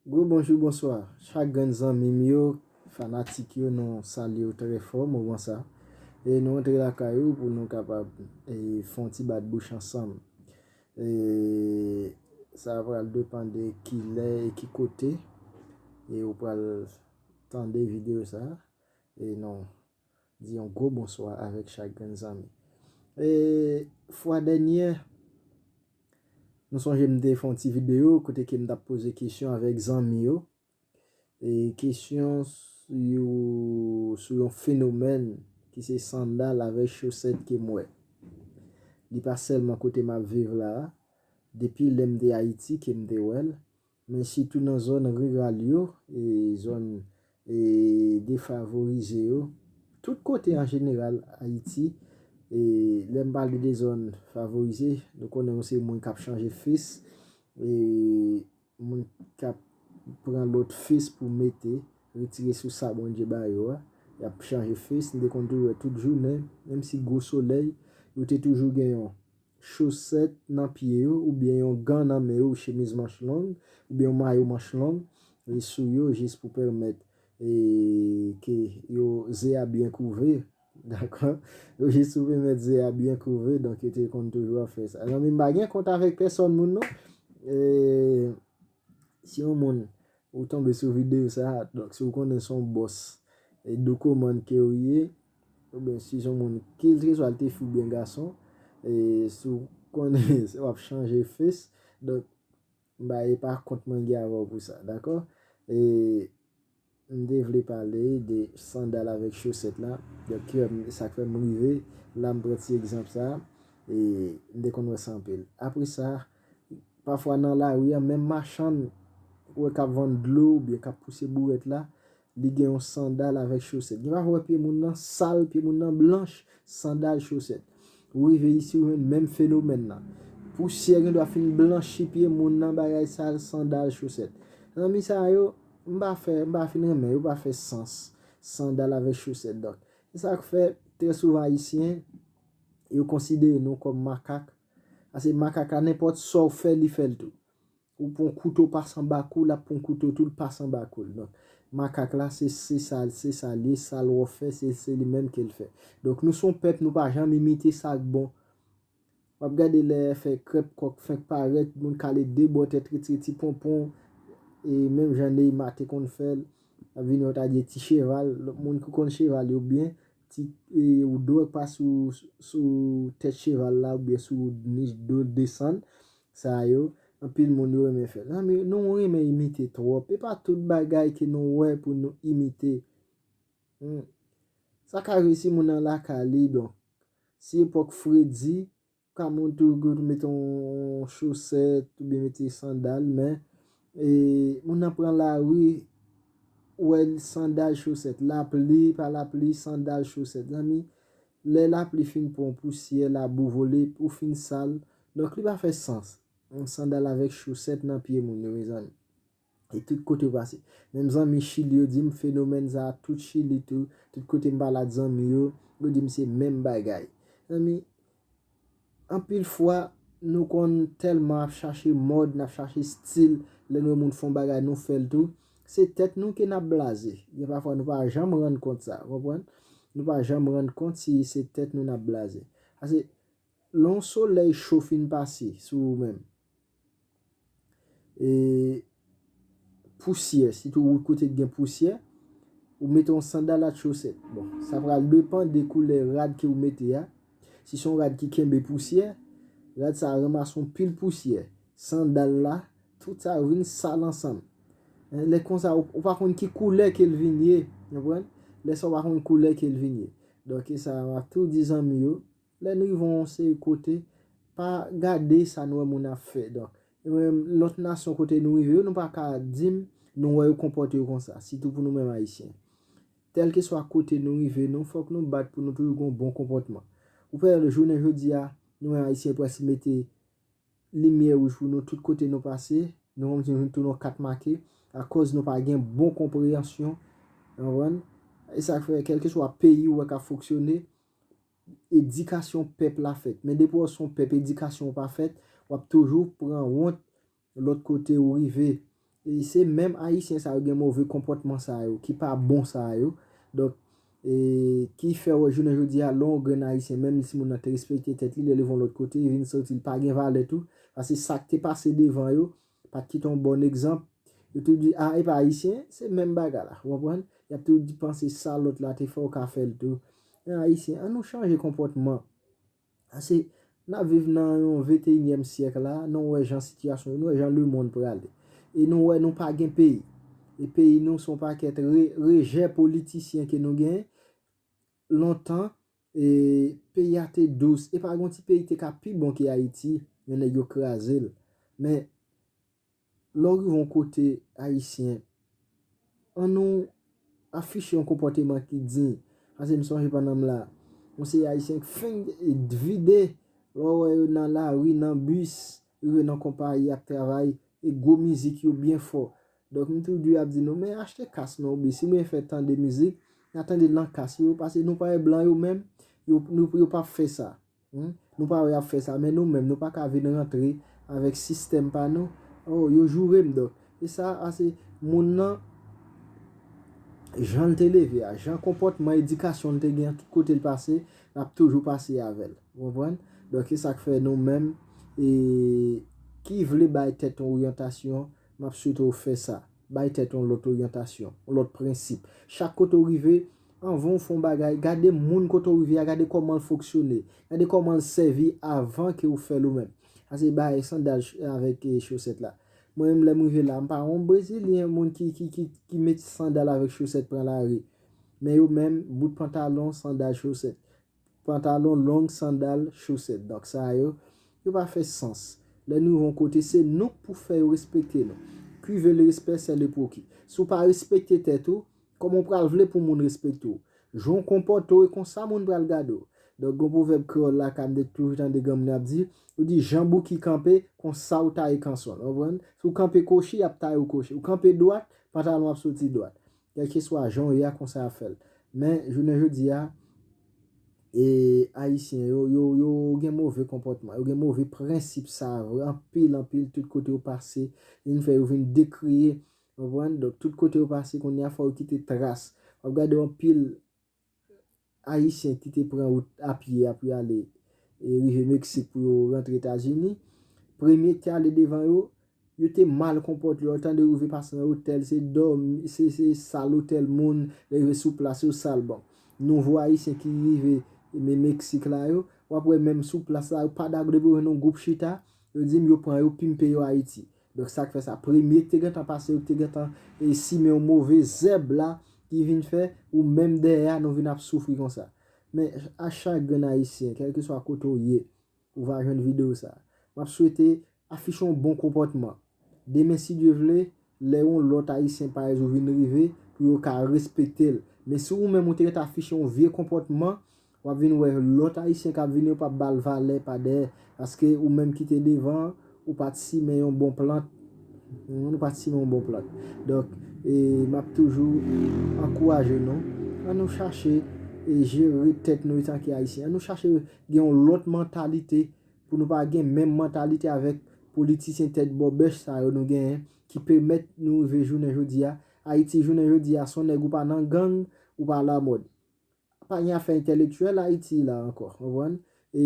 Gwo bonjou bonswa chak grenn zanmi m yo fanatik yo nou salye w trè fò moman sa e nou antre lakay ou pou nou kapab fè yon ti bat bouch ansanm sa pral depan de ki lè e ki kote e ou pral tande videyo sa e nou. Di yon gwo bonswa avèk chak grenn zanmi. E fwa dènyè, nou sonje m te fè yon ti videyo kote ke m t ap poze kesyon avèk zanmi yo. E kesyon sou yon fenomèn ki se sandal avèk chosèt ke m wè. Li pa sèlman kote m ap viv la a. Depi lè m te Ayiti ke m te wè l. Men sitou nan zòn riral yo, zòn defavorize yo, tout kote an jeneral Ayiti, lè m pale de zòn favorize, nou konnen ou se moun k ap chanje fis, moun k ap pran lòt fis pou mete, retire sou sa Bondye ba yo a, y ap chanje fis, nou te konn tou wè tout jounen, menm si gwo solèy, yo te toujou gen yon. chosèt nan pye yo, oubyen yon gan nan men yo, chemiz manch long, oubyen yon mayo manch long sou yo jis pou pèmèt ke yo ze a byen kouve, dakò, yo jis pou pèmèt ze a byen kouve, donk yo te konn toujou ap fè sa. Zanmi m pa gen kont avèk pèsòn moun non, si yon moun ou tonbe sou videyo sa, donk si w konnen se yon bòs Doukoumane ke w ye, Ou byen si son moun kiltre swa l te fi ou byen gason e si w konnen w ap chanje fes donk m pa e pa kont mwen gen avè w pou sa dakò e m te vle pale de sandal avèk chosèt la donk ki fè m sa k fè m rive la m pran ti egzanp sa e m te konn wè sa anpil apre sa pafwa nan lari a menm machann ou wè k ap vann dlo ou byen k ap pouse bourèt la Li gen yon sandal avèk chosèt. Gen pafwa ou wè pye moun nan sal, pye moun nan blanch, sandal, chosèt. Ou rive isi ou jwenn menm fenomèn nan. Pousyè gen dwa fin blanchi pye moun nan bagay sal, sandal, chosèt. Zanmi sa yo, m pa fè, m pa fin renmen yo, yo pa fè sans. Sandal avèk chosèt donk. Se sa k fè, trè souvan ayisyen, yo konsidere nou kòm makak. Ase makak la nenpòt sa ou fè li fè l tou. Ou pran kouto pas anba kou lap pran kouto tou l pas anba kou l donk makak la se se sa se sa l ye sa l wò fè se se li menm ke l fè donk nou son pèp nou pa janm imite sa k bon w ap gade lè fè krèp kòk fenk parèt moun kale de bò tèt retire ti ponpon e menm jan Neymar te konn fè l ap vini yo ta di e ti cheval moun ki konn cheval yo byen ti e ou dwe pas sou sou tèt cheval la oubyen sou nich do desann Sa yo, anpil moun yo renmen fè. Zanmi, nou renmen imite twòp. E pa tout bagay ke nou wè pou nou imite. Hum. Sa ka resi moun nan lakay li donk. Si epòk fredi, ou ka moun tou gou tou mete yon chosèt, ou byen mete sandal, men, e, moun nan pran lari, ou wè l sandal chosèt. Lapli, pa lapli, sandal chosèt. Zanmi, Lè lapli fin pwan pousyè labou vole pou fin sal donk li pa fè sans yon sandal avèk chosèt nan pye moun yo mezanmi e tout kote ou pase menm zanmi chili yo dim fenomèn sa tout chili tou tout kote m pale at zanmi yo yo dim se menm bagay zanmi Anpil fwa, nou konn tèlman ap chache mòd, n ap chache stil, lè n wè moun fè yon bagay nou fè l tou, se tèt nou ke n ap blaze. Gen pafwa nou pa janm rann kont sa, konprann? Nou pa janm rann kont si se tèt nou n ap blaze. Pase, lè yon solèy cho fin pase sou ou menm, e pousyè sitou wout kote ki gen pousyè ou mete yon sandal ak chosèt bon sa pral depan de koulè rad ke ou mete a si son rad ki kenbe pousyè rad sa ranmase yon pil pousyè sandal la tout sa yo vin sal ansanm lè konsa ou pa konn ki koulè ke l vin ye ou konprann lè sa ou pa konn koulè ke l vin ye donk e sa map tou di zanmi yo. Lè n rive yon seri kote, pa gade sa n wè moun ap fè. Donk, lòt nasyon kote nou rive yo, nou pa ka di m nou wè yo konpòte yo konsa, sitou pou nou menm Ayisyen. Kèlkeswa kote nou rive, nou fòk nou bat pou nou toujou gen yon bon konpòtman. Ou pa wè jounen jodi a, nou menm Ayisyen prèske mete limyè wouj pou nou tout kote nou pase, nou konn di nou vin tounen yon kat make akòz nou pa gen bon konpreyansyon. Ou konprann? E sa k fè kèlkeswa peyi ou wè k ap fonksyone, edikasyon pèp la fèt. Men depi wè w se yon pèp edikasyon w pa fèt, w ap toujou pran wont lòt kote ou rive. E se menm Ayisyen sa yo gen move konpòtman sa yo, ki pa bon sa yo. Donk, e ki fè wè jounen jodi a, lè yon grenn Ayisyen, menm si moun nan te respekte tèt li, lè li va yon lòt kote, li vin santi li pa gen valè tou. Pase sa k te pase devan yo, Pat kite yon bon egzanp. Yo toujou di ah epa ayisyen, se menm bagay la. Ou konprann? Yap toujou di panse sa lòt la te fè ou ka fèl tou. Men ayisyen, an nou chanje konpòtman. Ase, nap viv nan yon venteyinyèm syèk la, nou wè jan sitiyasyon ye, nou wè jan lemonn prale. E nou wè nou pa gen peyi. E peyi nou son pakèt rejè politisyen ke nou gen. Lontan e peyi a te dous epa gon ti peyi te ka pi bon ke ayiti men nèg yo krazel men lè w rive yon kote ayisyen an nou afiche yon konpòteman ki diy pase m sonje pandan m la yon seri ayisyen k fenk vide lè w wè yo nan lari nan bis rive nan konpayi ap travay e gwo mizik yo byen fò Dok m toujou ap di nou men achte kas nou oubyen si nou vle fè tande mizik na tandel nan kas yo pase nou pa wè blan yo menm yo pap fè sa humm nou pa wè yap fè sa men nou menm nou pa ka vin rantre avèk sistèm pa nou oh yo jourem dok e sa ase moun nan janl te leve a jan konpòtman edikasyon l te gen tout kotel pase lap toujou pase avèl ou konprann dok esak fè nou menm ee ki vle bay tèt nou oryantasyon M ap swete w fè sa. Bay tèt ou yon lòt oryantasyon, yon lòt prensip. Chak kote ou rive, anvan ou fè yon bagay, gade moun kote ou rive a, gade kòman l fonksyone, gade kòman l sèvi avan ke ou fè l ou menm. Sa se bay sandal avèk chosèt la. Mwen menm lè m rive la, m pa yon brezilyen, moun ki met sandal avèk chosèt pran lari. Men yo menm, bout pantalon, sandal, chosèt. Pantalon long, sandal, chosèt. Donk sa yo, yo pa fè sans. Lè nou rive yon kote, se nou k pou fè yo respekte nou. Qui veut le respect c'est le proki. Si w pa respekte tèt ou, kòman w pral vle pou moun respekte w? Jan w konpòte w e konsa moun pral gade w. Donk gon pwovèb kreyòl lakay m te toujou tande granm nan ap di, yo di jan Bouki kanpe, konsa w taye kanson l. Konprann? Si w kanpe kochi, y ap taye w kochi. Ou kanpe dwat, pantalon w ap soti dwat. Kèlkeswa jan w ye a konsa y ap fè l. Men, jounen jodi a, e Ayisyen yo, yo, yo gen move konpòtman, yo gen move prensip sa a vre, anpil, anpil, tout kote yo pase, li vin fè yo vin dekriye, konprann? Donk, tout kote yo pase kounye a fò yo kite tras. W ap gade anpil Ayisyen ki te pran wout apye a pou y ale rive Meksik pou yo rantre Etazini, premye ki te ale devan yo, yo te mal konpòte. Lè yo tande rive pase nan otèl, se dòmi, se sal otèl moun, lè yo rive sou plas yo sal. Bon, nouvo Ayisyen ki rive Meksik la yo, w ap wè menm sou plas la yo pa dakò depi yo jwenn yon gwoup chita, yo di m yo pran yo pimpe yo Ayiti. Donk sa k fè sa premye k te gentan pase yo k te gentan simen yon move zèb la ki vin fè ou menm dèyè a nou vin ap soufri konsa. Men a chak grenn ayisyen kèlkeswa kote w ye ou va jwenn videyo sa. M ap swete afiche yon bon konpòtman. Demen si Dye vle lè yon lòt ayisyen parèz ou vin rive pou yo ka respekte l. Men si ou menm ou te ret afiche yon vye konpòtman Wap vin wè lòt ayisyen kap vini yo pap bal valè pa dèyè paske ou menm kite devan an ou pat simen yon bon plant ou pat simen yon bon plant donk map toujou ankouraje nou an nou chache jere tèt nou etanke ayisyen an nou chache gen yon lòt mantalite pou nou pa gen menm mantalite avèk politisyen tèt bòbèch sa yo nou genyen ki pèmèt nou rive jounen jodi a ayiti jounen jodi a son nèg ou pa nan gang ou pa lamòd Pa gen afè entèlektyèl Ayiti la ankò, ou konprann? E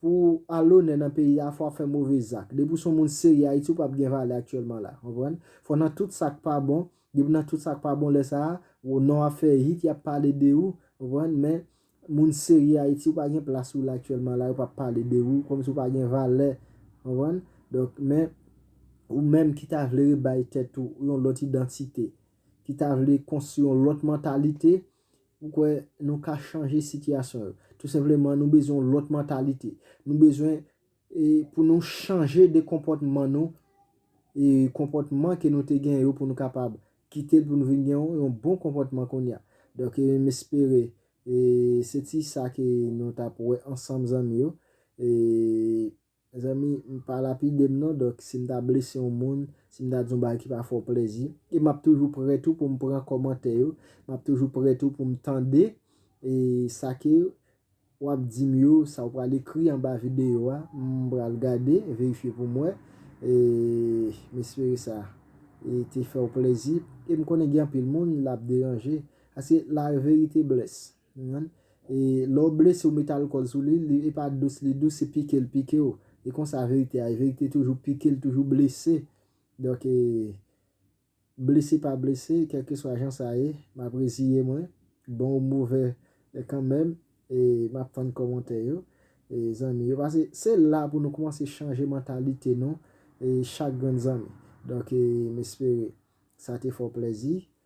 pou w alonè nan peyi a, fò w ap fè move zak. Depi w se yon moun serye Ayiti, ou pap gen valè aktyèlman la, ou konprann? Fò nan tout sa k pa bon, depi w nan tout sa k pa bon lè sa a, ou non w ap fè hit, y ap pale de ou, ou konprann? Men, moun serye Ayiti, ou pa gen plas ou la aktyèlman la, yo pap pale de ou, kòm si w pa gen valè, ou konprann? Donk, men, ou menm ki ta vle rebay tèt ou yon lòt idantite, ki ta vle konstwi yon lòt mantalite, m kwè nou ka chanje sitiyasyon yo. Tou senpleman nou bezwen yon lòt mantalite. Nou bezwen pou nou chanje de konpòtman nou, e konpòtman ke nou te gen yo pou nou kapab kite l pou nou vin gen yon bon konpòtman kounye a. Donk e m espere se ti sa ke nou t ap wè ansanm zanmi yo. Mezanmi m pa lapide m non donk si m ta blese yon moun, si m ta di yon bagay ki pa fè w plèzi, e m ap toujou prè tou pou m pran kòmantè yo, m ap toujou prè tou pou m tande e sa ke w ap di m yo, sa w pral ekri anba videyo a, m pral gade, verifye pou m wè e m espere sa e te fè w plèzi e m konnen gen anpil moun l ap deranje paske la verite blesse. E lè w blese w mete alkòl sou li, li epa dous li dous se pike l pike w. E konsa verite a ye, verite toujou pike l toujou blese. Donk e blese pa blese kèlkeswa jan sa ye, m ap reziye mwen, bon ou move kanmenm e m ap tann kòmantè yo e zanmi yo. Pase se la pou nou koumanse chanje mantalite nou e chak grenn zanmi. Donk e m espere sa te fè w plèzi